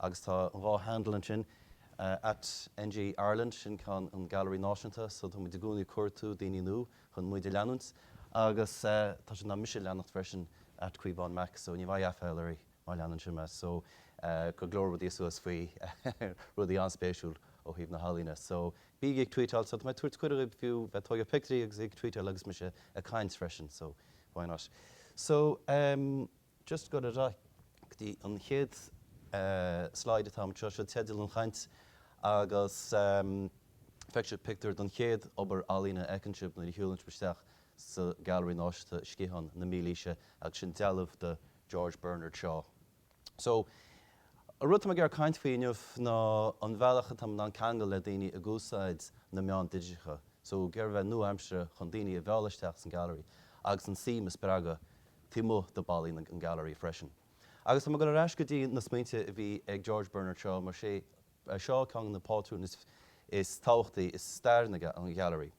Agus tá an dhá handle ansin at NG Ireland, sin ceann an Ghailearaí Náisiúnta, so táimid i gcónaí ag cuartú daoine nua chun muid a leanúint. Agus tá siad in ann mise a leanacht freisin at Caomhán Mac, so ní bheidh aiféal orthu má leanann siad mé. So go leor rudaí suas ann faoi rudaí an-spéisiúil ó thaobh na healaíne. So bígí ag tweetáil, so tá mé ag tabhairt cuireadh dhaoibh fiú bheith ag tógáil pictiúirí agus ag tweetáil agus mise ag caint freisin, so why not? So. Just go dtí an chéad slide atá, seo teideal an chaint agus feicfidh sibh pictiúr den chéad obair ealaíne a fheiceann sibh nuair a shiúlann sibh isteach sa Gailearaí Náisiúnta, Sciathán na Mílaoise agus sin dealbh de George Bernard Shaw. So, an rud atá mé ag iarraidh caint faoi inniu ná an bhealach atá muid in ann ceangal le daoine ag úsáid na meáin digiteacha. So, ag iarraidh bheith nua-aimseartha chun daoine a mhealladh isteach san Gailearaí agus a suim a spreagadh taobh amuigh de ballaí an Gallery freisin. Agus tá mé ag dul ar ais go dtí na smaointe a bhí ag George Bernard Shaw mar sé Shaw ceann de na pátrúin is tábhachtaí is stairiúla ag an Ghallery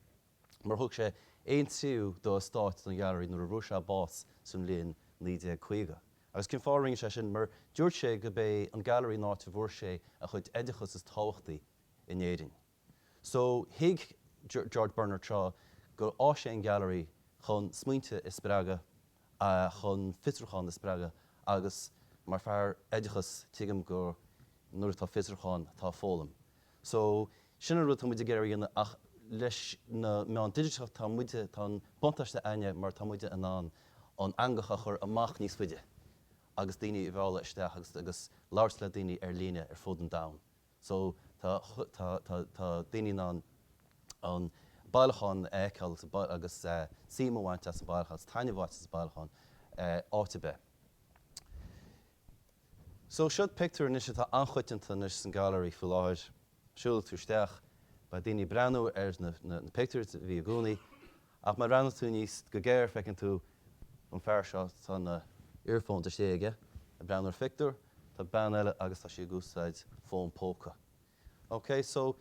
mar thug sé aon tríú dá eastát don Ghallery nuair a bhfuair sé bás sa mbliain 1950. Agus cén fáth a rinne sé sin? Mar dúirt sé gob é an Gallery an áit a bhfuair sé a chuid oideachas is tábhachtaí in Éirinn. So thuig George Bernard Shaw gur áis é an Gallery chun smaointe a spreagadh, chun fiosrúchán a spreagadh agus mar fear oideachas tuigim gur nuair atá fiosrúchán tá foghlaim. So sin an rud atá muid ag iarraidh a dhéanamh ach leis na meáin digiteacha tá muide, tá an buntáiste againne mar tá muid in ann an eangach a chur amach níos faide agus daoine a mhealladh isteach agus labhairt le daoine ar líne ar fud an domhain. So, tá, tá, tá, tá daoine in ann an bailiúchán a fheiceáil agus suim a bhaint as an bailiúchán, agus taitneamh a bhaint as an bailiúchán áit ar bith. So, seo pictiúr anois atá an-choitianta anois san Gallery faoi láthair. Siúlfaidh tú isteach, beidh daoine ag breathnú ar na pictiúir a bhí i gcónaí. Ach má bhreathnaíonn tú aríst go géar feiceann tú an fear seo, tá na earphones istigh aige ag breathnú ar phictiúr, tá bean eile agus tá sí ag úsáid fón póca. OK so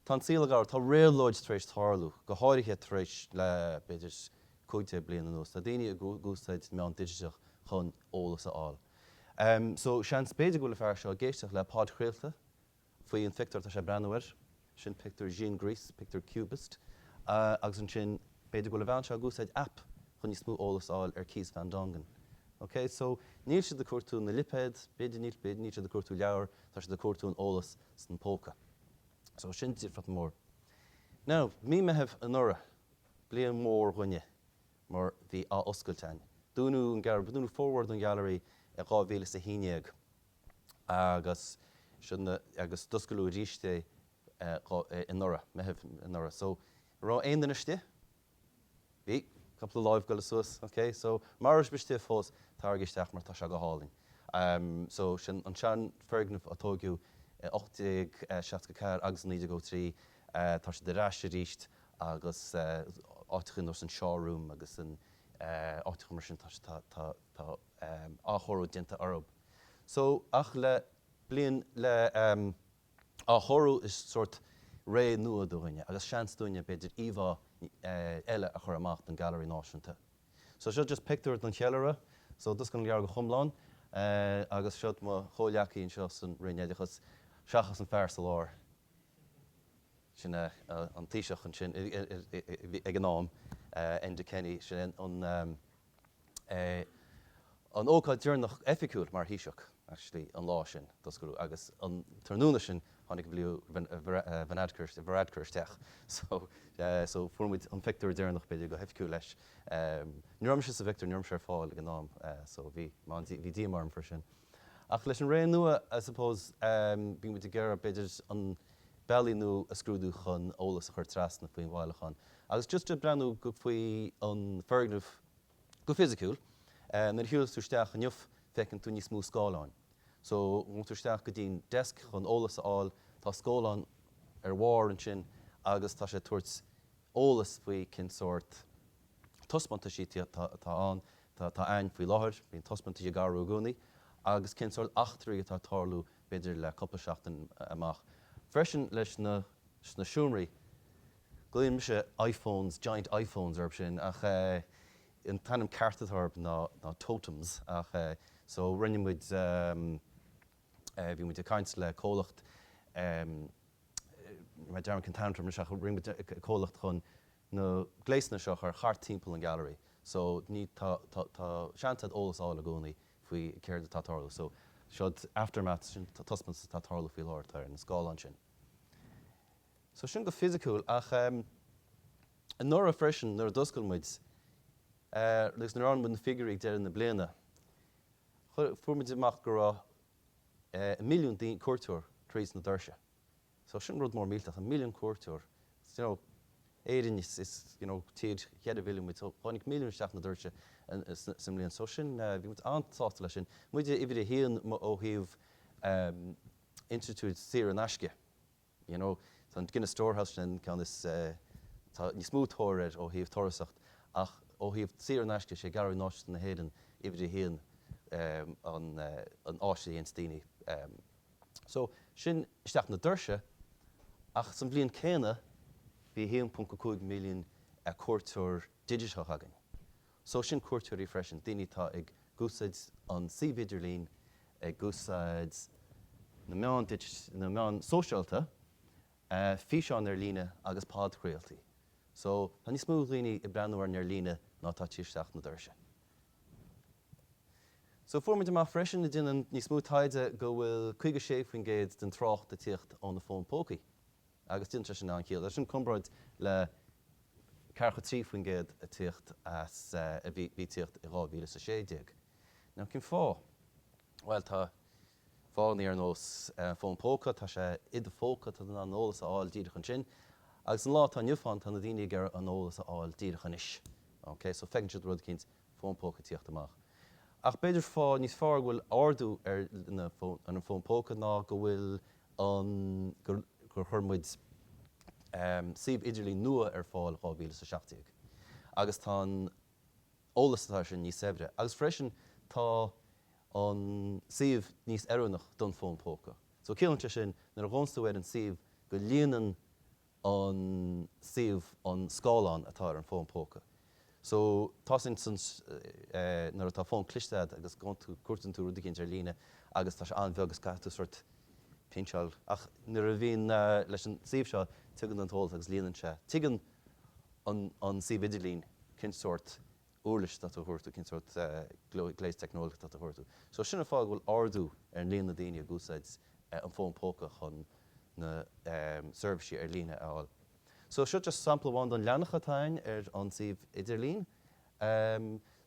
tá an saol ag athrú, tá réabhlóid tar éis tarlú, go háirithe tar éis le b'fhéidir cúig déag bliain anuas, tá daoine ag úsáid meán digiteach chun eolas a fháil. So seans b'fhéidir go bhfuil an fear seo ag éisteacht le podchraoladh, Faoi an phictiúr atá sé ag breathnú air, sin pictiúr Juan Gris, pictiúr Cubist, agus ansin b'fhéidir go bhfuil an bhean seo ag úsáid aip chun níos mó eolas a fháil ar Kees Van Dongen. Ok, so níl siad ag cuartú na lipéad, b'fhéidir, níl, b'fhéidir níl siad ag cuartú leabhar, tá siad ag cuartú an eolas san póca. So sin difriocht mór. Now, mí Meitheamh anuraidh, bliain mhór dhuinne mar bhí athoscailt ann. Dúnadh formhór den Gallery i dhá mhíle is a haon dhéag. agus sin agus d'osclaíodh arís é anuraidh, Meitheamh anuraidh. So an raibh aon duine istigh? Bhí, cúpla lámh ag goil suas, ok. So mura raibh sibh istigh fós, taraigí isteach mar tá sé go hálainn. So sin an seanfhoirgneamh a tóigeadh i 1864 agus i 1903, tá sé ar ais arís agus áiteachaí nós an Shaw Room agus an áiteachaí mar sin tá, tá, tá, tá, tá athchóiriú déanta orthu. So ach le bliain le athchóiriú is sórt ré nua dúinne agus seans dúinne b'fhéidir íomhá eh eile a chur amach don Gailearaí Náisiúnta. So seo just pictiúr don cheiliúradh so just go ndearna go hiomlán eh agus seo mo chomhghleacaí anseo san Roinn Oideachas seachas an fear sa lár sin eh an Taoiseach ansin i i i i ag an am eh Enda Kenny sin an eh é an ócáid deireanach oifigiúil mar Thaoiseach, actually, an lá sin, d'osclaíodh, agus an tráthnóna sin, tháinig Leo Varadkar isteach, so, so, fuair muid an phictiúr deireanach, b'fhéidir, go hoifigiúil leis. Ní raibh mise sa bpictiúr, ní raibh mise ar fáil ag an am, so, bhí, bhí díomá orm faoi sin. Ach leis an ré nua I suppose bíonn muid ag iarraidh b'fhéidir bealaí nua a scrúdú chun eolas a chur trasna faoin bhailiúchán agus just ag breathnú go faoi an foirgneamh go fisiciúil nuair a shiúlann tú isteach inniu feiceann tú níos mó scáileáin so ghabhann tú isteach go dtí'n desk chun eolas a fháil tá scáileán ar bharr ansin agus tá sé ag tabhairt eolas faoi cén sórt taispeántaisí atá ann, atá ann faoi láthair, bíonn taispeántaisí ag athrú i gcónaí, agus cén sórt ócáidí atá ag tarlú b'fhéidir le cúpla seachtain amach. Freisin leis na sna seomraí, glaonn mise iPhones, giant iPhones orthu sin ach an t-ainm ceart atá orthu ná ná totems ach so rinne muid bhí muid ag caint le comhlacht, níl mé ag cuimhneamh ar an ainm atá orthu anois ach rinne muid comhlacht chun, na gléasanna seo a chur thart timpeall an gallery so ní tá tá tá seans a'd eolas a fháil i gcónaí faoi céard atá ag tarlú so seod aftermath sin taispeántas atá ag tarlú faoi láthair atá ar an scáileán sin so sin go fisiciúil ach ehm anuraidh freisin nuair a d'oscail muid eh agus nuair a fuair muid na figiúirí ag deireadh na bliana chuir fuair muid amach go raibh eh milliún daoine cuairteoir tríd na doirse. So sin rud mór millteach, milliún cuairteoir, do you know, Éirinn is, you know, tír cúig mhilliún muid, so tháinig milliún isteach na doirse sa mbliain. So sin, bhí muid an-sásta leis sin. Muide uimhir a haon ó thaobh institiúid saor in aisce, you know, tá an Guinness Storehouse sin an ceann is, tá níos mó tóir air ó thaobh turasóireacht ach ó thaobh saor in aisce, sé Gailearaí Náisiúnta na hÉireann uimhir a haon an áis a dhéanns daoine. So, sin isteach na doirse ach sa bhliain céanna bhí 1.5 milliún cuairteoir digiteach againn. So, sin cuairteoirí freisin, daoine atá ag úsáid an suíomh idirlín, ag úsáid na meáin digit, na meáin sóisialta, físeáin ar líne agus podchraoltaí. So, tá níos mó daoine ag breathnú orainn ar líne ná atá ag tíocht isteach na doirse. So fuair muid amach freisin ag déanamh níos mó taighde go bhfuil 56% den trácht ag tíocht ó na fóin póca agus deineann sé sin an-chiall, sin i gcomparáid le 43% ag tíocht as a bhí ag tíocht i 2016. Now cén fáth? Bhuel tá fáthanna ar nós fón póca tá sé i do phóca tá tú in ann an t-eolas a fháil díreach ansin agus an lá atá inniu ann tá na daoine ag iarraidh an t-eolas a fháil díreach anois ok so feiceann siad rud eicínt fón póca ag tíocht amach ach b'fhéidir fáth níos fearr go bhfuil ardú ar na ar an fón póca ná go bhfuil an gur gur chuir muid suíomh idirlín nua ar fáil 2017 agus tá an. t-eolas atá ansin níos saibhre agus freisin tá an suíomh níos oiriúnach don fón póca. So ciallaíonn sé sin nuair a ghabhanns tú ar an suíomh go líonann an suíomh an scáileán atá ar an fón póca. So tá sin san nuair atá fón cliste agat agus gabhann tú, cuartaíonn tú rud eicínt ar líne agus tá sé an-bheag is caithfidh tú sort pinch-áil ach nuair a bhíonn leis an suíomh seo tagann an t-eolas agus líonann sé, tuigeann an. an suíomh idirlín, cén sórt uirlis atá tú a thabhairt, cén sórt gléas teicneolaíochta atá tú a thabhairt. So sin an fáth go bhfuil ardú ar an líon na daoine ag úsáid an fón póca chun na seirbhísí ar líne a fháil. So seo just sampla amháin den leathanach atá ann ar an suíomh idirlín.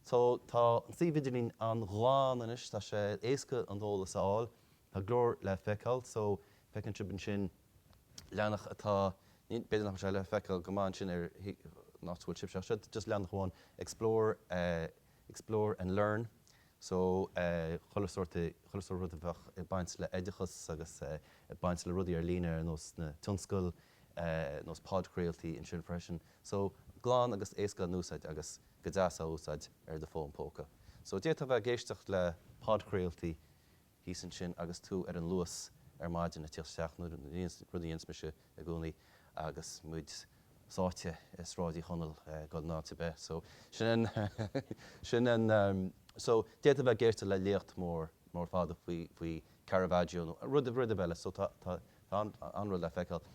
So tá an suíomh idirlín an-ghlan anois, tá sé éasca an t-eolas a fháil, tá go leor le feiceáil so feiceann sibh ansin, leathanach atá, b'fhéidir nach bhfuil sé le feiceáil go maith ansin ar an áit a bhfuil sibhse ach seo just leathanach amháin explore explore and learn so chuile sórt chuile sórt rud a bheadh ag baint le oideachas agus ag baint le rudaí ar líne ar nós na tionscail ar nós podchraoltaí ansin freisin so glan agus éasca le n-úsáid agus go deas le húsáid ar do fón póca so d'fhéadfá bheith ag éisteacht le podchraoltaí thíos ansin agus tú ar an Luas ar maidin ag tíocht isteach nó rud a dhéananns mise i gcónaí agus muid sáite i Sráid Uí Chonaill ag dul in áit ar bith so sin an sin an so d'fhéadfá a bheith ag éisteacht le léacht mór mór fada faoi faoi Caravaggio nó rud rud ar bith eile so tá tá tá an-rud le feiceáil.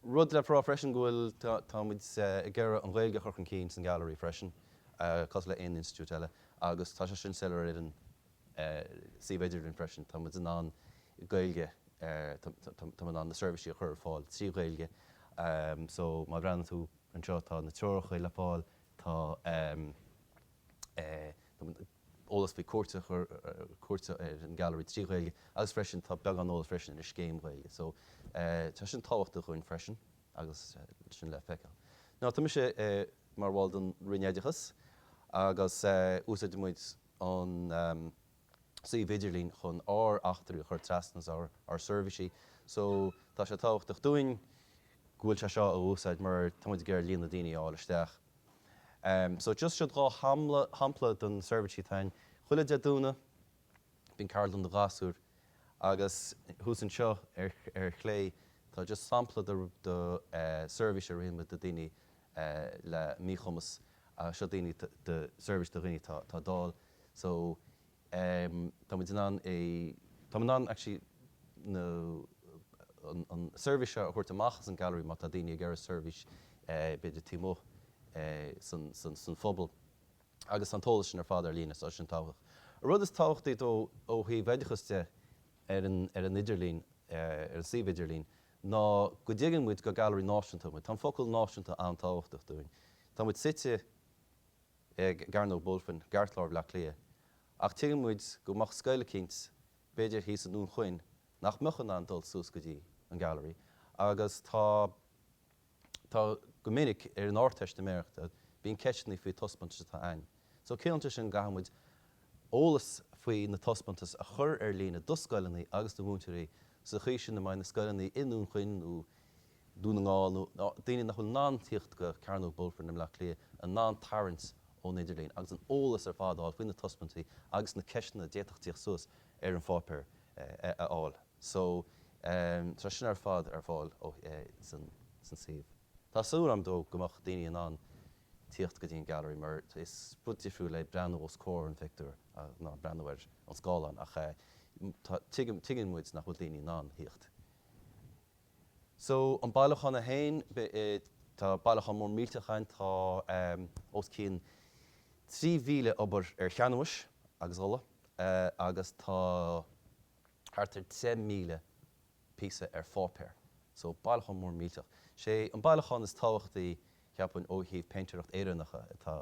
Rud le rá freisin go bhfuil, tá muid ag iarraidh an Ghaeilge a chur chun cinn san Gailearaí freisin, cosúil le aon institiúid eile, agus tá sé sin soiléir ar an suíomh idirlín freisin. Tá muid in ann Gaeilge, tá muid in ann na seirbhísí a chur ar fáil trí Ghaeilge. So má bhreathnaíonn tú anseo tá na treoracha le fáil, tá, eolas faoi cuairt a chur cuairt ar an Gallery trí Ghaeilge agus freisin tá beagán eolas freisin ar an scéim Ghaeilge so tá sin tábhachtach dhúinn freisin agus sin le feiceáil. Now tá mise mar bhall den Roinn Oideachas agus úsáid muid an suíomh idirlín chun ár eachtraí a chur trasna is ár seirbhísí. So, tá sé tábhachtach dúinn go bhfuil sé seo á úsáid mar tá muid ag iarraidh líon na daoine a fháil isteach. So, just seod dhá shampla de na seirbhísí atá ann. Chuile Dé Domhnaigh bíonn ceardlann do ghasúir agus thuas anseo ar chlé tá just sampla de seirbhís a rinne muid do daoine le míchumas seo daoine de seirbhís do dhaoine atá atá dall so ehm tá muid in ann é tá muid in ann actually na an an seirbhís seo a thabhairt amach as an Gallery má tá daoine ag iarraidh seirbhís eh b'fhéidir taobh amuigh eh san san san phobal agus tá an t-eolas sin ar fad ar líne so tá sin tábhachtach. An rud is tábhachtaí domh ó thaobh oideachas de ar an ar an idirlíon eh ar an suíomh idirlíon ná go dtuigeann muid gur gallery náisiúnta muid. Tá an focal náisiúnta an-tábhachtach dúinn. Tá muid suite i gCearnóg Mhuirfean, i gceartlár Bhleá Cliath, ach tuigeann muid go mbeadh scoil eicínt b'fhéidir thíos i nDún Chaoin nach mbeadh in ann dul suas go dtí an gallery agus tá Tá go minic ar an Ardteistiméireacht bíonn ceisteanna faoi taispeántais atá ann. So ciallaíonn sé sin go gcaithfidh muid eolas faoi na taispeántais a chur ar líne do scoileanna agus do mhúinteoirí sa chaoi sin a mbeidh na scoileanna i nDún Chaoin nó Dún na nGall nó daoine nach bhfuil in ann tíocht go Cearnóg Mhuirfean i mBleá Cliath in ann tarraingt ón idirlíon agus an eolas ar fad a fháil faoi na taispeántais agus na ceisteanna a d'fhéadfadh tíocht suas ar an pháipéar a fháil. So, tá sin ar fad ar fáil san suíomh. Tá súil agam freisin go mbeadh daoine in ann tíocht go dtí an gallery mar is rud difriúil le breathnú os comhair an phictiúir ná breathnú ar an scáileán ach tuigim, tuigeann muid nach bhfuil daoine in ann a thíocht. So, an bailiúchán é féin, tá bailiúchán mór millteach ann, tá os cionn 3,000 obair ar chanbhás agus ola agus tá thart ar 10,000 píosa ar pháipéar, so bailiúchán mór millteach. Sé an bailiúchán is tábhachtaí cheapfainn ó thaobh péintéireacht Éireannacha atá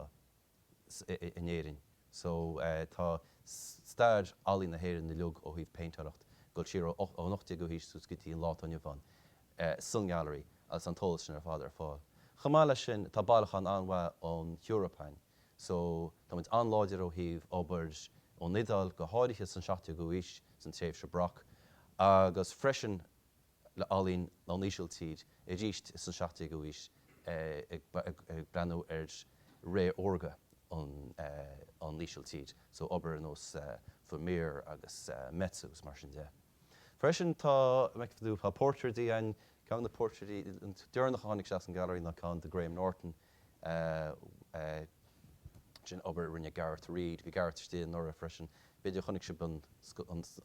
in Éirinn, so tá stair ealaín na hÉireann uilig ó thaobh péintéireacht ag dul siar ón 18ú haois suas go dtí an lá atá inniu ann san Gallery agus tá an t-eolas sin ar fad ar fáil. Chomh maith leis sin tá bailiúchán an-mhaith ón Eoraip ann. So, tá muid an-láidir ó thaobh obair ón Iodáil, go háirithe san 17ú aois, san tréimhse Baroque, agus freisin le ealaín ón Ísiltír, arís san 17ú aois, ag breathnú ar ré órga na hÍsiltíre, so obair ar nós Vermeer agus Metsu is mar sin de. Freisin tá tá portraits ann, ceann de na portraits deireanach a tháinig isteach san gallery ná ceann de Graham Norton sin obair a rinne Gareth Reid, bhí Gareth istigh anuraidh freisin, b'fhéidir chonaic sibh an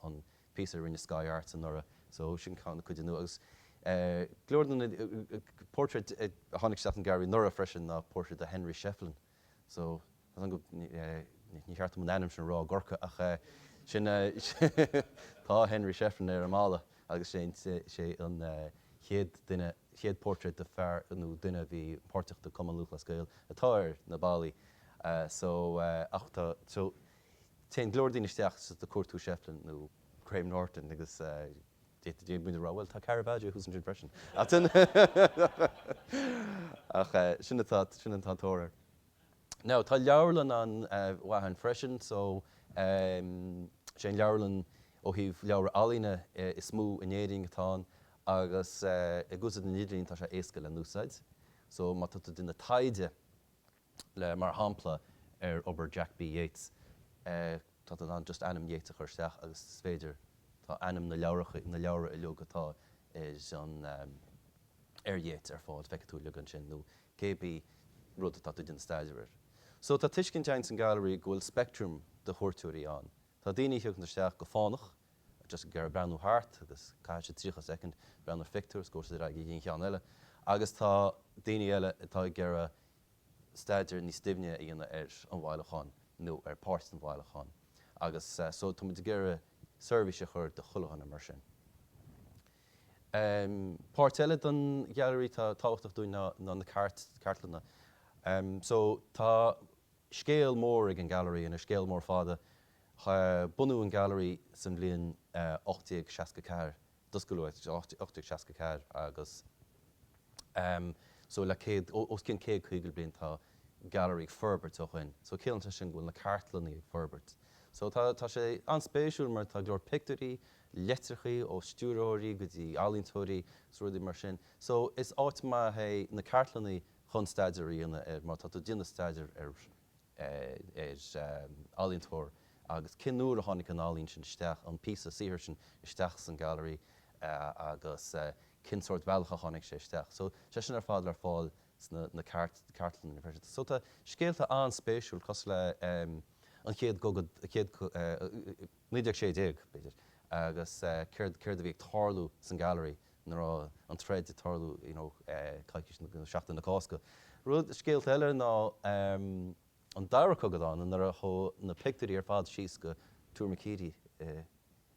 an píosa a rinne Sky Arts anuraidh so sin ceann de na cinn nua agus ceann eile de na portraits a tháinig isteach san gallery anuraidh freisin ná portrait de Henry Shefflin. so tá an ní cheart dom an ainm sin a rá i gCorca ach sin tá Henry Shefflin ar an mballa agus sé an chéad duine chéad portrait de fear nó duine a bhí páirteach i gCumann Lúthchleas Gael atá ar na ballaí so ach tá so téann go leor daoine isteach ag cuartú Shefflin nó Graham Norton agus D'fhéadfaí a rá, bhuel tá Caravaggio thuas ansin freisin ach sin atá, sin atá an tóir orthu. Now tá leabharlann an-mhaith ann freisin so sé an leabharlann ó thaobh leabhra ealaíne is mó in Éirinn atá ann agus ag úsáid an idirlíon tá sé éasca le húsáid so má tá tú ag déanamh taighde, le mar shampla ar obair Jack B. Yeats. Tá tú in ann just ainm Yeats a chur isteach agus is féidir, tá ainm na leabhrachaí, na leabhra uilig atá ar an, ar Yeats ar fáil, feicfidh tú uilig ansin nó cé bí rud atá tú ag déanamh staidéar air. So tá tuiscint againn san Gailearaí go bhfuil spectrum de chuairteoirí ann. Tá daoine a thiocfaidh isteach go fánach, just ag iarraidh breathnú thart agus caithfidh siad 30 soicind ag breathnú ar phictiúr is gabhfaidh siad ar aghaidh go dtí an ceann eile. Agus tá daoine eile atá ag iarraidh staidéar níos doimhne a dhéanamh ar an bhailiúchán nó ar pháirt don bhailiúchán agus so tá muid ag iarraidh seirbhís a chur do chuile dhuine mar sin. Páirt eile don Ghailearaí atá tábhachtach dúinn ná na cartlanna. So tá Scéal mór ag an Ghailearaí ina scéal mór fada. Bunaíodh an Gailearaí san bhliain 1864, d'oscail 1864 agus ehm so le céad, os cionn céad caoga bliain tá an Gailearaí ag forbairt ó shoin. So ciallaíonn sin go bhfuil na cartlannaí ag forbairt. So tá tá sé an-spéisiúil mar tá go leor pictiúirí, leitreachaí ó stiúrthóirí go dtí ealaíontóirí, so rudaí mar sin. So is áit maith iad na cartlannaí chun staidéar a dhéanamh air, má tá tú ag déanamh staidéar ar ealaíontóir agus cén uair a tháinig an ealaín sin isteach, an píosa saothair sin isteach san Ghailearaí agus cén sórt bealach a tháinig sé isteach. So tá sé sin ar fad le fáil sna na cartlanna freisin. So tá scéalta an-spéisiúil cosúil le an chéad chogadh, an chéad, 1916 b'fhéidir, agus céard, céard a bhí ag tarlú san Ghailearaí Nuair a bhí an troid ag tarlú you know coicís nó seachtain na Cásca? Rud, scéalta eile ná an dara cogadh domhanda nuair a tógadh na pictiúirí ar fad síos go Tuar Mhic Éadaigh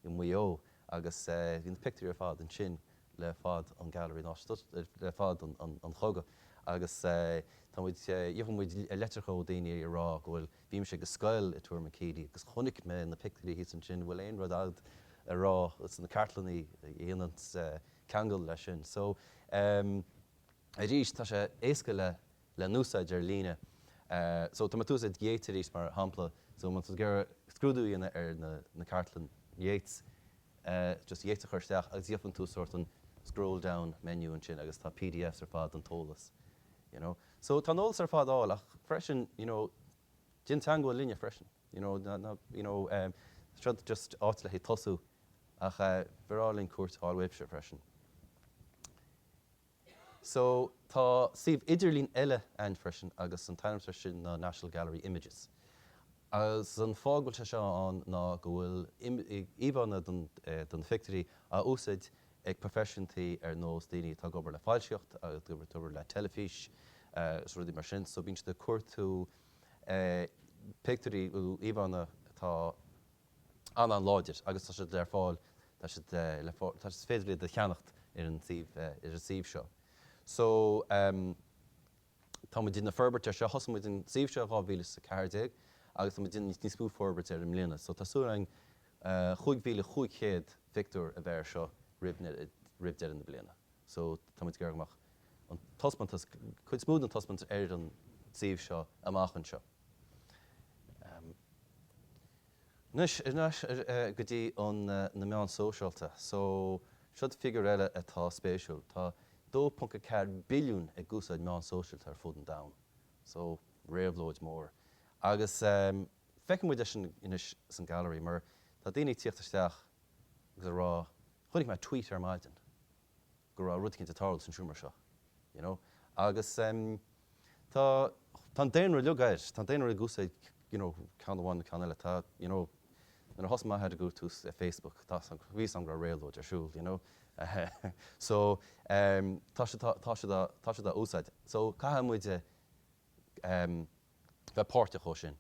i Maigh Eo agus bhí na pictiúirí ar fad ansin le fad an Ghailearaí Náisiúnta le fad an chogadh agus tá muid gheobhaidh muid leitreacha ó dhaoine ag rá go bhfuil Bhí mise ag scoil i dTuar Mhic Éadaigh agus chonaic mé na pictiúirí thíos ansin. An bhfuil aon rud agat ar na cartlannaí a dhéanann ceangal leis sin? So, em, arís, tá sé éasca le, le húsáid ar líne. So, tá mé ag úsáid Yeats arís mar shampla. So, má tá tú ag iarraidh scrúdú a dhéanamh ar na, na cartlanna Yeats, eh, just Yeats a chur isteach agus gheobhaidh tú sórt an scroll down menu ansin agus tá PDFs ar fad don t-eolas, you know. So tá an t-eolas ar fad ar fáil ach freisin you know déan teangmháil linne freisin you know ná ná you know ehm seo just áit le haghaidh tosú ach eh ba bhreá linn cuairt a fháil uaibhse freisin. So tá suíomh idirlín eile a'inn freisin agus an t-ainm ar sin ná National Gallery Images agus an fáth go bhfuil sé seo ann ná go bhfuil im, íomhánna don eh don phictiúirí á úsáid ag proifisiúnaigh ar nós daoine atá ag obair le foilsitheoireacht, ag obair le teilifís agus rudaí mar sin. So bíonn siad ag cuardú pictiúirí nó íomhánna atá an-an-láidir agus tá siad ar fáil, tá siad le fáil, tá, is féidir iad a cheannacht ar an suíomh, ar an suíomh seo. So. Tá muid ag forbairt ar seo. Thosaigh muid an suíomh seo i 2014 agus tá muid ag déanamh níos mó forbairt ar i mbliana. So tá súil againn 5,500 phictiúr a bheith ar seo roimh dheireadh na bliana. So tá muid ag iarraidh go mbeadh an taispeántas, cuid níos mó den taispeántas ar an suíomh seo amach anseo. Anois, ar ais go dtí an na meáin shóisialta. So, seod figure eile atá spéisiúil. Tá 2.4 billiún ag úsáid meáin shóisialta ar fud an domhain. So, réabhlóid mór. Agus feiceann muid é sin anois san gallery mar tá daoine ag tíocht isteach agus ag rá, chonaic mé tweet ar maidin. go raibh rud éicint ag tarlú san seomra seo you know agus em tá tá an daonra uilig tá an daonra ag úsáid you know ceann amháin nó ceann eile tá you know nuair a thosaigh m'athair a chuntas eh Facebook tá a fhios bhí a fhios go raibh réabhlóid ar siúl you know so em tá siad tá tá siad á tá siad dhá úsáid so caithfidh muid eh em bheith páirteach leis sin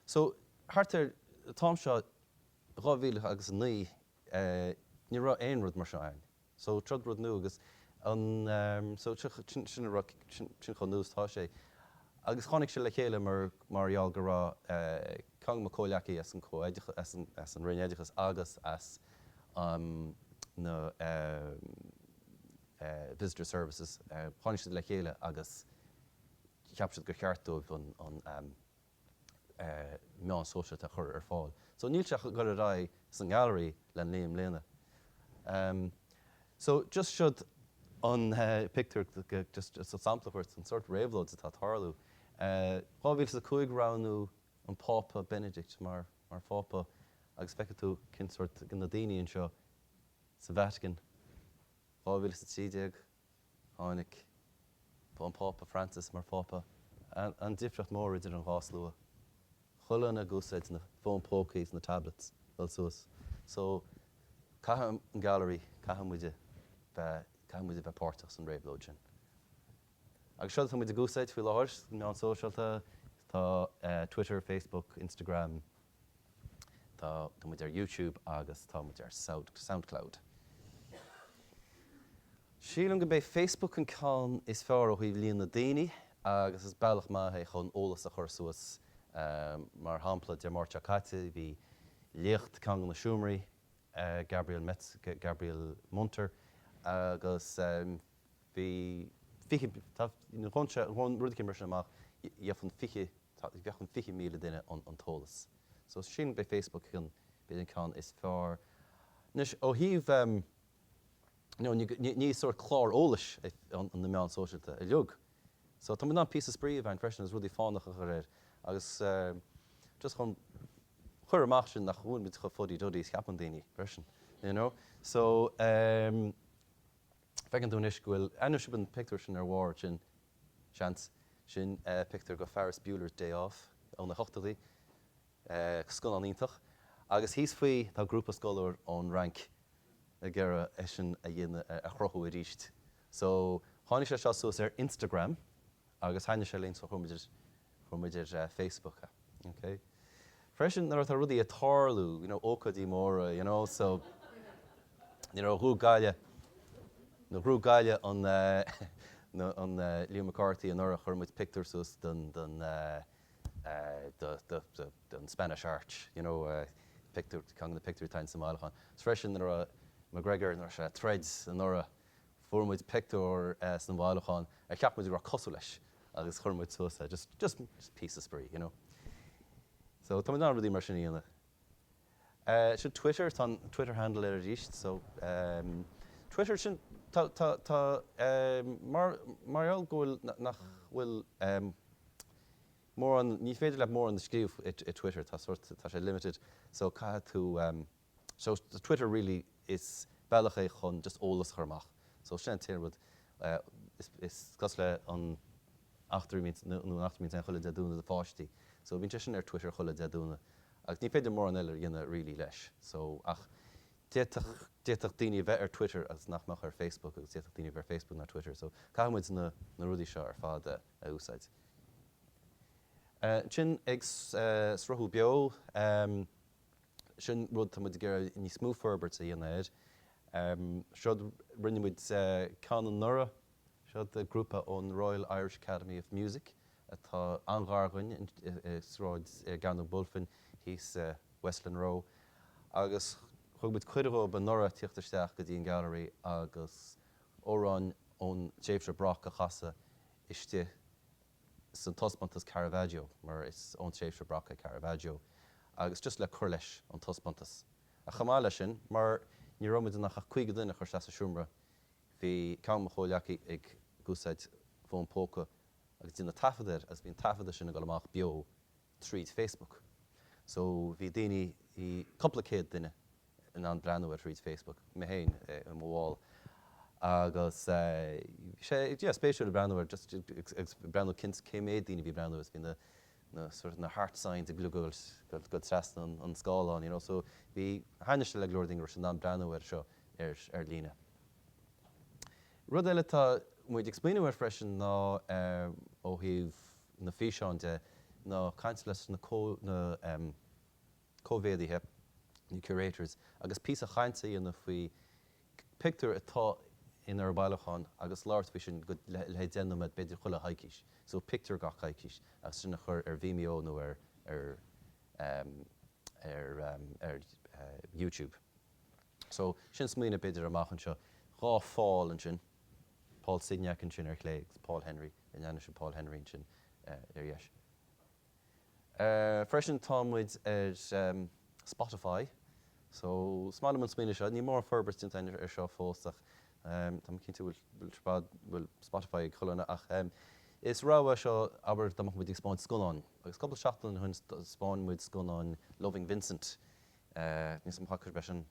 so thart ar an t-am seo dhá mhíle agus a naoi ní raibh aon rud mar seo ann so is rud nua agus an so sin sin a raibh sin chomh nua is tá sé agus tháinig sé le chéile mar mar gheall go raibh ceann de mo chomhghleacaí as an co as an as an roinn oideachas agus as an na visitor services tháinig siad le chéile agus cheap siad gur cheart dóibh an an meáin shóisialta a chur ar fáil. So níl sé ag dul ar aghaidh sa ngailearaí ach le naoi mbliana. So just siod an pictiúr just sampla a thabhairt den sórt réabhlóid atá ag tarlú. 2005 roghnaíodh an Pápa Benedict mar mar Phápa agus feicfidh tú cén sórt na daoine anseo sa Vatican. 2013 Tháinig an Pápa Francis mar Phápa. An difríocht mór idir an dhá slua. Chuile dhuine ag úsáid na fón póca is na tablets dul suas. So caithfidh an gallery, caithfidh muide bheith, caithfidh muid a bheith páirteach san réabhlóid sin. Agus seo atá muid ag úsáid faoi láthair, meáin shóisialta, tá Twitter, Facebook, Instagram, Tá tá muid ar YouTube agus tá muid ar Soundcloud. Sílim gurb é Facebook an ceann is fearr ó thaobh líon na daoine agus is bealach maith é chun eolas a chur suas. Mar shampla Dé Máirt seo caite bhí léacht i gceann de na seomraí Gabriel Metz Gabriel Munter agus bhí fiche, tá, ghabhfadh sé, ghabhfadh rud éicint mar sin amach, gheobhadh fiche, tá, gheobhadh fiche míle duine an, an t-eolas. So sin, b'é Facebook an, b'fhéidir an ceann is fearr. Anois, ó thaobh ehm, no, ní, ní, ní sórt clár eolais é an, na meáin sóisialta uilig. So tá muid in ann píosa spraoi a bhaint freisin agus rudaí fánacha a chur air agus eh just chun cur amach sin nach bhfuil muid chomh fuddy duddy is cheapann daoine freisin, you know. So ehm. Feiceann tú anois go bhfuil, ansin an pictiúr sin ar bharr sin, seans. Sin pictiúir go Ferris Bueller's Day Off ó na hochtóidí. Scannán iontach. Agus thíos faoi tá grúpa scoláirí ón Fhrainc ag iarraidh é sin a dhéanamh, a chruthú arís. So, tháinig sé seo suas ar Instagram agus thaitnigh sé linn so chuir muid Chuir muid ar Facebook é. Ok. Freisin nuair atá rudaí ag tarlú, you know, ócáidí móra, you know, so, you know, ghnóthaigh Gaillimh, nuair a ghnóthaigh Gaillimh an eh, an eh, Liam McCarthy anuraidh chuir muid pictiúr suas den, den eh, eh, de, de, de, den Spanish Arch, you know, eh, pictiúr, ceann de na pictiúirí atá insa mbailiúchán. Is freisin nuair a McGregor, nuair a throid sé anuraidh, Fuair muid pictiúr sa mbailiúchán ar cheap muid go raibh cosúil leis agus chuir muid suas é, just, just píosa spraoi, you know. So, tá muid in ann rudaí mar sin a dhéanamh. Eh, sin Twitter, tá an Twitter handle air arís, so, em, Twitter, sin, tá, tá, tá, em, mar, mar gheall go bhfuil, nach bhfuil, em, mórán, ní féidir leat mórán a scríobh i, i Twitter, tá sórt, tá sé limited, so caithfidh tú, em, So Twitter really is bealach é chun just eolas a chur amach. So sin, déanann muid is cosúil le an eachtra a bhíonns, no an eachtra a bhíonns ann chuile Dé Domhnaigh do pháistí. So bíonn sé sin ar Twitter chuile Dé Domhnaigh agus ní féidir mórán eile a dhéanamh really leis. So ach d'fhéadfadh, d'fhéadfadh daoine a bheith ar Twitter agus nach mbeadh ar Facebook agus d'fhéadfadh daoine a bheith ar Facebook ná Twitter. So caithfidh muid na, na rudaí seo ar fad a, a úsáid. Ansin ag sruthú beo. Sin rud tá muid ag iarraidh níos mó forbairt a dhéanamh air. Seo rinne muid ceann anuraidh. Seo grúpa ón Royal Irish Academy of Music atá an-ghar againn i Sráid, ar Rae an Iarthair thíos Westland Row agus thug muid cuireadh dhóibh anuraidh teacht isteach go dtí an Gallery agus amhráin ón tréimhse Baroque a chasadh istigh sa taispeántas Caravaggio mar is ón tréimhse Baroque é Caravaggio agus just le cur leis an taispeántas ach chomh maith leis sin mar ní raibh muid in ann ach 50 duine a chur isteach sa seomra bhí ceann de mo chomhghleacaithe ag úsáid fón póca agus ag déanamh taifead air agus bhí an taifead de sin ag dul amach beo tríd Facebook so bhí daoine, bhí cúpla céad duine. in ann breathnú air thríd Facebook mé féin ar mo Wall agus bhí sé yeah spéisiúil ag breathnú air just ag breathnú cineál cé méad daoine a bhí ag breathnú agus bhí na na sort of na heart signs ag gluaiseacht trasna an scáileáin you know so bhí seans le go leor daoine go raibh siad in ann breathnú air seo ar ar líne. Rud eile atá muid ag smaoineamh air freisin ná ó thaobh na físeáin de ná caint leis na na coimeádaithe, na curators, agus píosa cainte a dhéanamh faoi pictiúir atá inár mbailiúchán agus labhairt faoi sin go, le haghaidh deich nóiméad b'fhéidir chuile choicíos, so pictiúr gach coicíos agus sin a chur ar Vimeo nó ar ar em ar em ar eh YouTube. So sin smaoineamh b'fhéidir amach anseo. Dhá Phaul ansin, Paul Signac ansin ar chlé agus Paul Henry, in ann sin Paul Henry ansin eh ar dheis. Freisin tá muid ar Spotify so smaoinim an smaoineamh seo, níl mórán forbairt déanta againn ar seo fós ach tá mé cinnte go bhfuil Spotify ag chuile dhuine ach is rogha seo abair dá mbeadh muid ag spáint scannáin agus cúpla seachtain ó shin spáin muid scannán Loving Vincent níl a fhios agam an bhfaca sibh é sin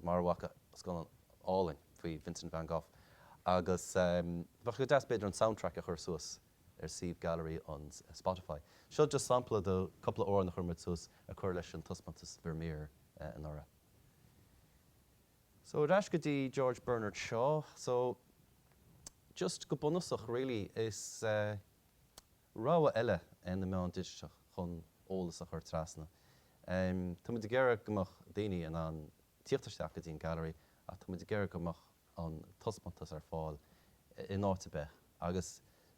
mara bhfaca scannán álainn faoi Vincent Van Gogh agus bheadh sé go deas b'fhéidir an soundtrack a chur suas ar suíomh gallery ar Spotify. Seo just sampla do cúpla amhrán a chuir muid suas a chur leis an taispeántas Vermeer anuraidh. So ar ais go dtí George Bernard Shaw. So just go bunúsach really is rogha eile iad na meáin digiteach chun eolas a chur trasna. Tá muid ag iarraidh go mbeadh daoine in ann tíocht isteach go dtí an Gallery ach tá muid ag iarraidh go mbeadh an taispeántas ar fáil in áit ar bith agus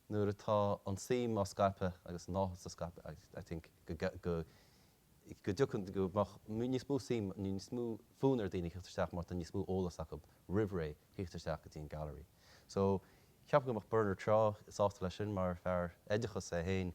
nuair atá an suim á scaipeadh agus an áthas á scaipeadh I think go dtiocfaidh, go mbeadh níos mó suim, níos mó fonn ar dhaoine theacht isteach mar tá níos mó eolas acu roimh ré theacht isteach go dtí an Gallery. So ceapaim go mbeadh Bernard Shaw sásta leis sin mar fear oideachais é féin